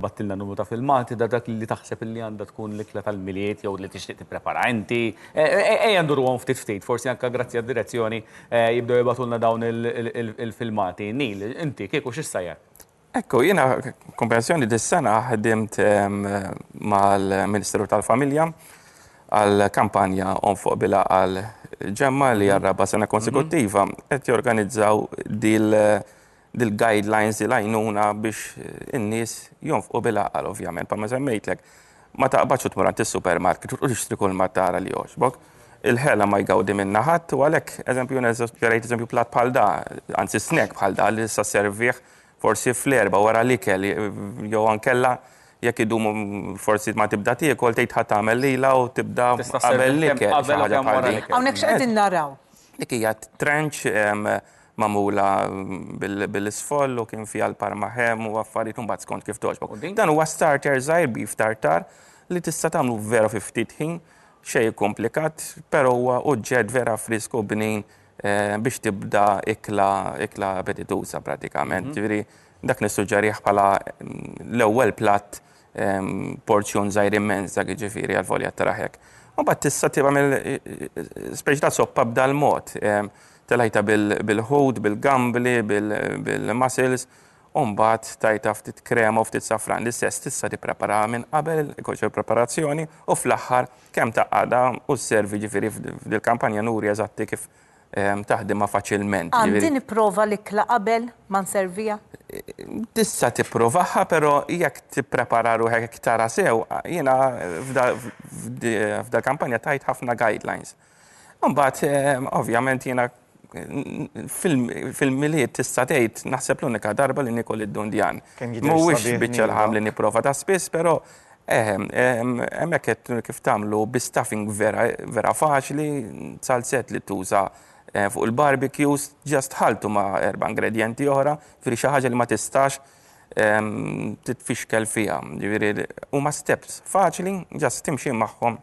Bgħattilna numru ta' filmati ta' dak li taħseb illi għandha tkun l-ikla tal-Milied jew li tixtieq tipprepara inti. Ejja nduruhom ftit ftit, forsi anke grazzi għad-direzzjoni jibdew jibgħatulna dawn il-filmati. Neil, inti kieku x'issajjar? Hekk hu, jiena komprensjoni dis-sena ħdimt mal-Ministeru tal-Familja għal kampanja Omm Fuq Bilha għal Ġemma li għar-raba' sena konsekuttiva qed jorganizzaw dil dil-guidelines, dil-għajnuna biex in-nies jonfqu bil-għaqal ovvjament. Bħalma semmejtlek, ma taqbadx u tmur għand is-supermarket u tixtri kull ma tara li jogħġbok. Il-ħela ma jgawdi minnha ħadd u għalhekk, eżempju, jiena ġerejt eżempju platt bħal da, anzi snack bħal da li issa sservih forsi fl-erbgħa wara l-ikel jew ankella jekk idum forsi ma tibda tiekol tgħid ħa tagħmel lilha u tibda qabel l-ikel. Hawnhekk x'qegħdin naraw? Dik hija trench magħmula bil-isfoll u kien fiha l-parmahem u affarijiet imbagħad skont kif togħġbok. Dan huwa starter żgħir beef tartar li tista' tagħmlu vera fi ftit ħin, xejn ikkumplikat, però huwa uġġett vera frisk u bnin biex tibda ikla ikla appetituża pratikament. Ġifieri dak nissuġġerih bħala l-ewwel platt porzjon żgħir immens dak jiġifieri għall-volja taraħ hekk. Mbagħad tista' tagħmel speċi ta' soppa b'dal-mod. Telajta bil-ħut, bil-gambli, bil-mussels, u mbagħad tajta ftit krema u ftit safran. L-istess tista' tippreparaha minn qabel, ikun xi preparazzjoni, u fl-aħħar kemm tgħaqqadha u sservi jiġifieri f'dil-kampanja nuri eżatti kif taħdimha faċilment. Għandi nipprova l-ikla qabel ma nserviha? Tista' tipprovaha, però jekk tipprepara ruħek jekk tara sew, jiena f'dal-kampanja tajt ħafna guidelines. Imbagħad ovvjament jiena fil-milied tista' tgħid naħseb l-unika darba li niekol id-dundjan. Mhuwiex biċċa l-ħam li nipprova ta' spiss, però Eħe, hemmhekk qed kif tagħmlu bi stuffing vera vera faċli, salzett li tuża fuq il-barbecues, just ħaltu ma' erba' ingredjenti oħra, ġifieri xi ħaġa li ma tistax titfixkel fiha. Ġifieri huma steps faċli, just timxi magħhom.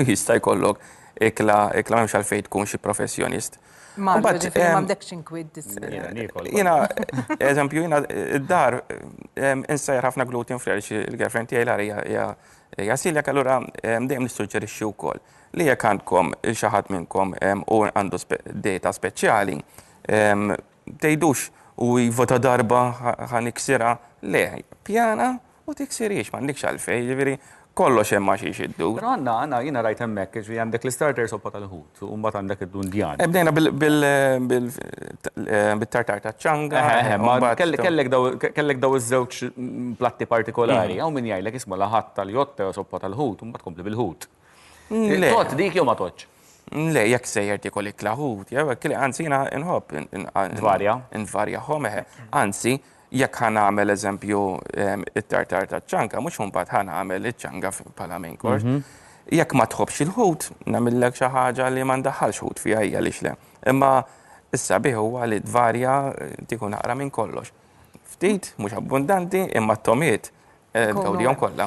Jista' jkollok ikla, ikla m'hemmx għalfejn tkun xi professjonist. Ma għandekx inkwid Jiena, eżempju, jiena id-dar insejjer ħafna gluten free għaliex il-girlfriend tiegħi l-għar hija celiac allura dejjem nissuġġerixxi wkoll li jekk għandkom il xi ħadd minnkom u għandu dieta speċjali, Tgħidux u iva ta' darba ħa niksirha, le, pjana u tiksirhiex, m'għandekx għalfejn, jiġifieri kollox hemm għax xi jdu. Però għandna, għandna, jiena rajt hemmhekk, jiġifieri għandek l-istarter soppa tal-ħut u mbagħad għandek id-dundjan. Eh, bdejna bil-tartar taċ-ċanga. Eh, eh, kellek daw iż-żewġ platti partikolari, hawn min jgħidlek isma' laħat tal-jotte u soppa tal-ħut u mbagħad tkompli bil-ħut. Tot dik jew ma totx? Le, jekk sejjer tikol iklaħut, jew kli anzi jina nħobb. Nvarja. Nvarja ħom, eħe. Anzi, jekk ħan għamel eżempju ehm, it-tartar ta' ċanka, mux bat ħan għamel iċ-ċanga pala main course. Mhm. Jekk ma tħobx il-ħut, namillek xi ħaġa li ma ndaħħalx ħut fiha hija li xle. Imma issa biħu huwa li tvarja eh, tikun naqra minn kollox. Ftit, mhux abbundanti, imma t-tomiet eh, tgawdihom kollha.